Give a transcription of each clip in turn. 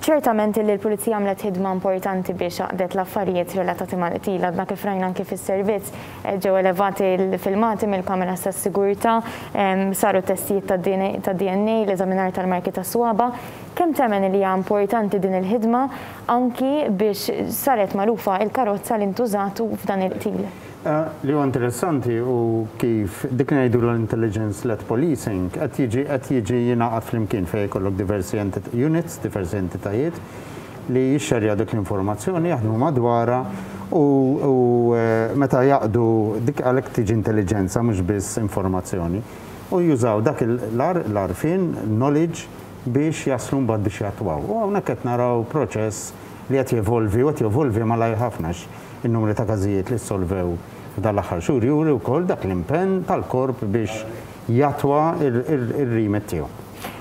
Ċertament illi l-Pulizija għamlet ħidma importanti biex għaqdet l-affarijiet relatati mal-qtil. Għadna kif rajna anki fis-servizz, ġew elevati l-filmati mill-kameras tas-sigurtà, saru t-testijiet tad-DNA, l-eżaminar tal-marki tas-swaba'. Kemm temmen illi hija importanti din il-ħidma anki biex saret magħrufa il-karozza li ntużat f'dan il-qtil? Li huwa interessanti hu kif dik li ngħidulha l-intelligence-led policing qed jiġi qed jiġi jingħaqad flimkien fejn jkollok diversi entit units, diversi entitajiet li jixxerjaw dik l-informazzjoni, jaħdmu madwarha u u meta jaqdu dik għalhekk tiġi intelliġenza mhux biss informazzjoni. U jużaw dak il, l-għarfien, knowledge, biex jaslu mbagħad biex jattwaw. U hawnhekk qed naraw proċess, li qed jevolvi u qed jevolvi malajr ħafna għax in-numri ta' każijiet li ssolvew f'dan l-aħħar xhur juri wkoll dak l-impenn tal-Korp biex jattwa r-remit tiegħu.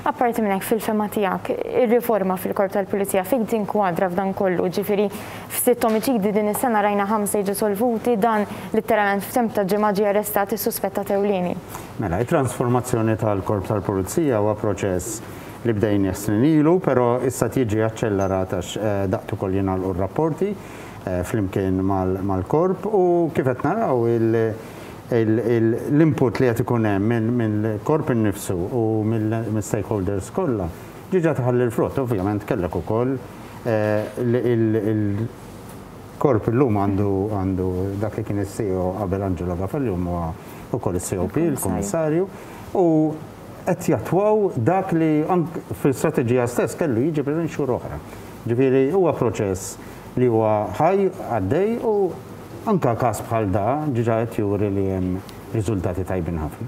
Apparti minn hekk, fil-fehma tiegħek, ir-riforma fil-Korp tal-Pulizija fejn tinkwadra f'dan kollu? Ġifieri f'sitt omiċidi din is-sena rajna ħamsa jiġu solvuti, dan litteralment f'temp ta' ġimgħa ġie arrestat is-suspettat ewlieni. Mela, it-transformazzjoni tal-Korp tal-Pulizija huwa proċess li bdejnieh snin ilu, pero issa qed jiġi aċċellerat għax daqt ukoll jingħalqu r-rapporti flimkien mal-korp u kif qed naraw l-input li qed ikun hemm mill-korp innifsu u mill-stakeholders kollha diġa tħalli l-frott. Ovvjament kellek ukoll il-korp illum għandu dak li kien is-CEO qabel Angelo Gafel illum huwa ukoll is-COP, il-Kummissarju, u qed jattwaw dak li anke fl-istrateġija stess kellu jiġi preżenti xhur oħra. Ġifieri huwa proċess li huwa ħaj, għaddej u anke każ bħal da diġà qed juri li hemm riżultati tajbin ħafna.